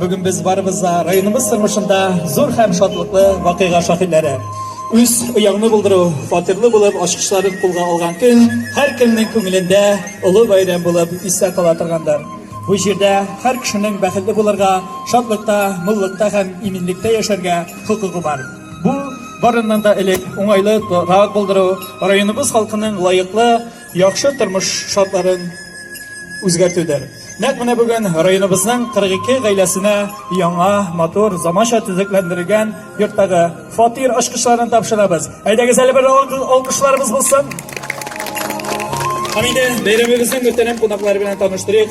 Бүген без барыбыз да районыбыз тормышында зур һәм шатлыклы вакыйга шаһитләре. Үз ояңны булдыру, фатирлы булып ачкычларын кулга алган көн һәркемнең күңелендә олы бәйрәм булып истә кала торгандыр. Бу җирдә һәр кешенең бәхетле булырга, шатлыкта, муллыкта һәм иминлектә яшәргә хокукы бар. Бу, барыннан да элек, уңайлы торак булдыру, районыбыз халкының лаеклы, яхшы тормыш шартларын үзгәртүдер. Нәкъ менә бүген районыбызның 42 гаиләсенә яңа, матур, заманча төзекләндерелгән йорттагы фатир ачкычларын тапшырабыз. Әйдәгез әле бер алкышларыбыз булсын. Һәм инде бәйрәмебезнең мөхтәрәм кунаклары белән таныштырыйк.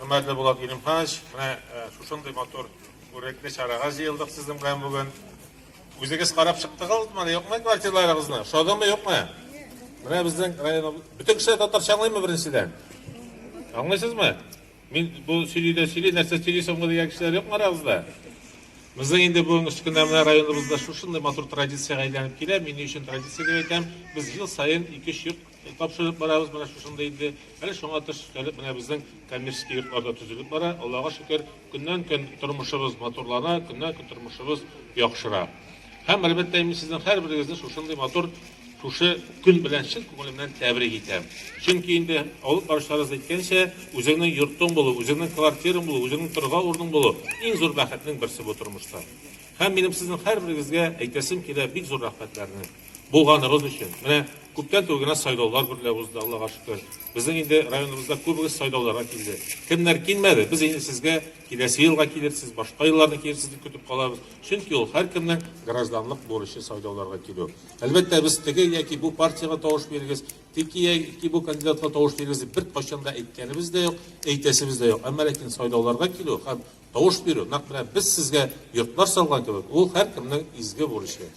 Хөрмәтле Булат Галимханович, менә шушындый матур күренекле чарага җыелдык сезнең белән бүген. Үзегез карап чыктыгызмы, юкмы квартираларыгызны? Ошадымы, юкмы? Менә безнең район бөтен кеше татарча аңлыймы беренчедән? Аңлыйсызмы? Мин бу сөйлидә сөйли, нәрсә сөйли соңгы дигән кешеләр юкмы арабызда? Безнең инде бүгенге өч көндә менә районыбызда шушындый матур традициягә әйләнеп килә. Мин ни өчен традиция дип әйтәм? Без ел саен ике-өч йорт Тапшырып барабыз менә шушында инде. Әле шуңа тыш өстәлеп менә безнең коммерческий йортлар да төзелеп бара. Аллага шөкер, көннән-көн тормышыбыз матурлана, көннән-көн тормышыбыз яхшыра. Һәм, әлбәттә, мин сезнең һәрберегезне шушындый матур шушы көн белән чын күңелемнән тәбрик итәм. Чөнки инде алып баручыларыбыз әйткәнчә, үзеңнең йортың булу, үзеңнең квартираң булу, үзеңнең торырга урының булу иң зур бәхетнең берсе бу тормышта. Һәм минем сезнең һәрберегезгә әйтәсем килә бик зур рәхмәтләрне. Булганыбыз өчен. Менә күптән түгел генә сайлаулар берлә узды, Аллага шөкер. Безнең инде районыбызда күбегез сайлауларга килде. Кемнәр килмәде, без инде сезгә киләсе елга килерсез, башка елларны килерсез дип көтеп калабыз. Чөнки ул һәркемнең гражданлык бурычы сайлауларга килү. Әлбәттә, без теге яки бу партиягә тавыш бирегез, теге яки бу кандидатка тавыш бирегез дип беркайчан да әйткәнебез дә юк, әйтәсебез дә юк. Әмма ләкин сайлауларга килү һәм Тавыш бирү, нәкъ менә без сезгә йортлар салган кебек, ул һәркемнең изге бурычы.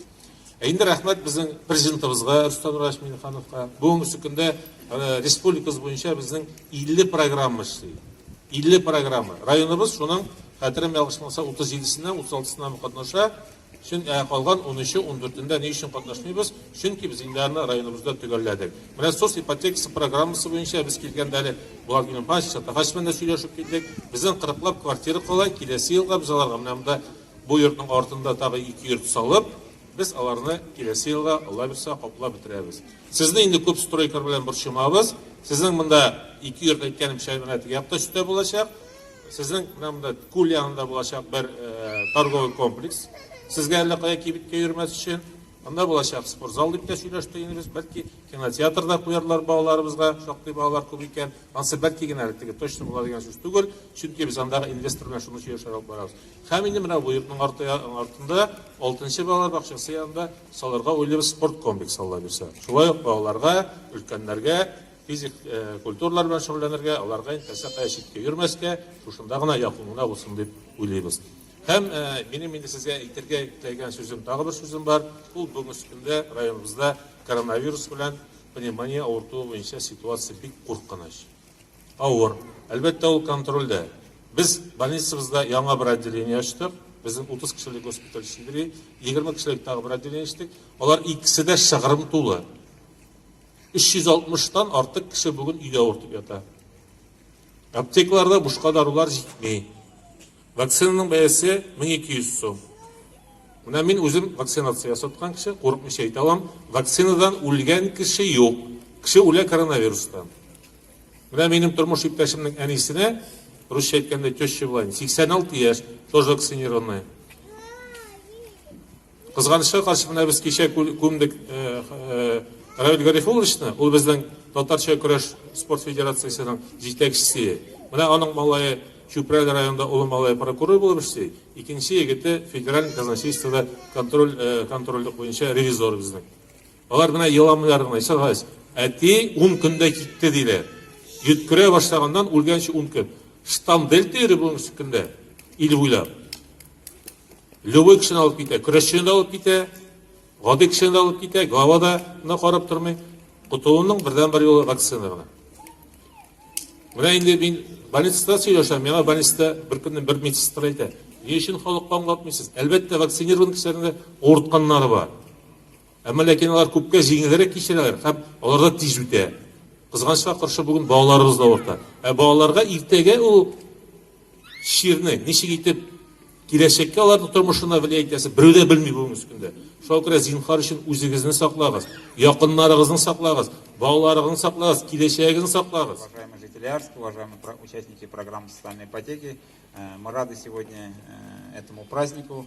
Ә инде рәхмәт безнең президентыбызга Рөстәм Раевич Миңнехановка. Бүгенге көндә республикабыз буенча безнең 50 программа эшли. 50 программа. Районыбыз шуның, хәтерем ялгышмаса, 37-сенә, 36-сына катнаша. Чөн, ә калган унөче, ундүртендә ни өчен катнашмыйбыз? Чөнки без инде аны районыбызда төгәлләдек. Менә Сос ипотекасы программасы буенча без килгәндә әле Булат Галимханович Саттарханович белән дә сөйләшеп килдек. Безнең кырыклап квартира кала, киләсе елга без аларга менә монда бу йортның артында тагы ике йорт салып, без аларны киләсе елга, Алла бирсә, каплап бетерәбез. Сезне инде күп стройкалар белән борчымабыз. Сезнең монда ике йорт, әйткәнемчә, менә теге якта өстә булачак. Сезнең менә монда күл янында булачак бер торговый комплекс. Сезгә әллә кая кибеткә йөрмәс өчен анда булачак спортзал дип тә сөйләштек инде без. Бәлки кинотеатр да куярлар балаларыбызга, шактый балалар күп икән. Ансы бәлки генә әле теге точно була дигән сүз түгел, чөнки без андагы инвестор белән шуны сөйләшеп алып барабыз. Һәм инде менә бу йортның арты артында, алтынчы балалар бакчасы янында салырга уйлыйбыз спорт комплекс, Алла бирсә. Шулай ук балаларга, өлкәннәргә Физик культуралар белән шөгыльләнергә, аларга инде нәрсә кая читкә йөрмәскә, шушында гына якын гына булсын дип уйлыйбыз. Һәм минем инде сезгә әйтергә теләгән сүзем, тагы бер сүзем бар, ул бүгенге көндә районыбызда коронавирус белән пневмония авыртуы буенча ситуация бик куркыныч. Авыр. Әлбәттә, ул контрольдә. Без больницабызда яңа бер отделение ачтык. Безнең 30 кешелек госпиталь сидри, 20 кешелек тагы бер отделение ачтык. Алар икесе дә шыгрым тулы. 360 тан артык кеше бүген өйдә авыртып ята. Аптекаларда бушка дарулар җитми. Вакцинаның бәясе 1200 сум. Менә мин үзем вакцинация ясаткан кеше, курыкмыйча әйтә алам, вакцинадан үлгән кеше юк. Кеше үлә коронавирустан. Менә минем тормыш иптәшемнең әнисенә, русча әйткәндә, теща была, 86 яшь, тоже вакцинированная. Кызганычка каршы, менә без кичә күмдек Равиль Гарифулловичны, ул безнең татарча көрәш спорт федерациясенең җитәкчесе. Менә аның малае Чүпрәл районында улы малае прокурор булып эшли, икенче егете федераль казначействода контроль контрольлек буенча ревизор безнең. Алар менә еламыйлар гына, Исәр Гайс. Әти 10 көндә китте диләр. Йөткерә башлаганнан үлгәнче 10 көн. Штамм дельта йөри бүгенге көндә ил буйлап. Любой кешене алып китә, көрәшчене дә алып китә, гади кешене дә алып китә, глава да мына карап тормый. Котылуның бердәнбер юлы вакцина гына. Менә инде мин больницада сөйләшәм, миңа больницада бер көнне бер медсестра әйтә, ни өчен халыкка аңлатмыйсыз? Әлбәттә, вакцинирован кешеләрнең дә авыртканнары бар. Әмма ләкин алар күпкә җиңелрәк кичерәләр һәм алар да тиз үтә. Кызганычка каршы, бүген балаларыбыз да авырта. Ә балаларга иртәгә ул чирне ничек итеп киләчәккә аларның тормышына влиять итәсе берү дә белми бүгенге көндә. Шуңа күрә зинһар өчен үзегезне саклагыз, якыннарыгызны саклагыз, балаларыгызны саклагыз, киләчәгегезне саклагыз. Уважаемые жители Арска, уважаемые участники программы социальной ипотеки, э, мы рады сегодня э, этому празднику.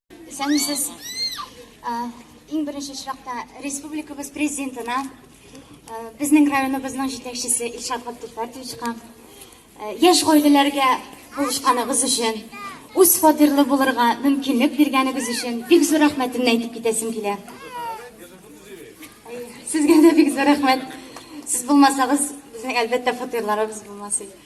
Исәнмесез. Иң беренче чиратта республикабыз президентына, безнең районыбызның җитәкчесе Илшат Габделфәрдовичка, яшь гаиләләргә булышканыгыз өчен, үз фатирлы булырга мөмкинлек биргәнегез өчен бик зур рәхмәтемне әйтеп китәсем килә. Сезгә дә бик зур рәхмәт. Сез булмасагыз, безнең әлбәттә фатирларыбыз булмас иде.